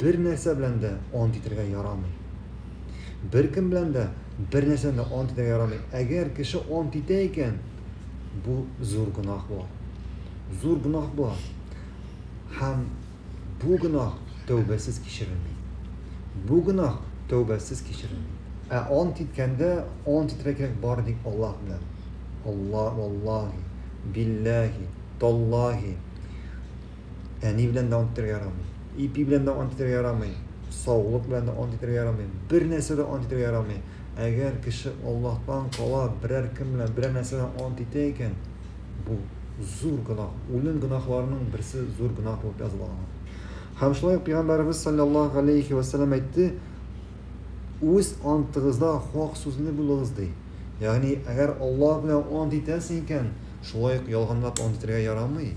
Бер нәрсә белән дә ант итәргә ярамый. Беркем белән дә бер нәрсәне дә ант итәргә ярамый. Әгәр кеше ант итә икән, бу зур гөнаһ була. Зур гөнаһ була. Һәм бу гөнаһ тәүбәсез кичерелми. Бу гөнаһ тәүбәсез кичерелми. Ә ант иткәндә ант итәргә кирәк бары тик Аллаһ белән. Алла, валлаһи, билләһи, таллаһи. Әни белән дә ант итәргә ярамый. Ипи белән дә ант итәргә ярамый. Саулык белән дә ант итәргә ярамый. Бер нәрсә дә ант итәргә ярамый. Әгәр кеше Аллаһтан кала берәр кем белән берәр нәрсәдән ант итә икән, бу зур гөнаһ. Үлем гөнаһларының берсе зур гөнаһ булып языла аңа. Һәм шулай ук Пәйгамбәребез саллаллаһу алейхи ва саллям әйтте, үз антыгызда хак сүзле булыгыз ди. Ягъни, әгәр Аллаһ белән ант итәсең икән, шулай ук ялганлап ант итәргә ярамый.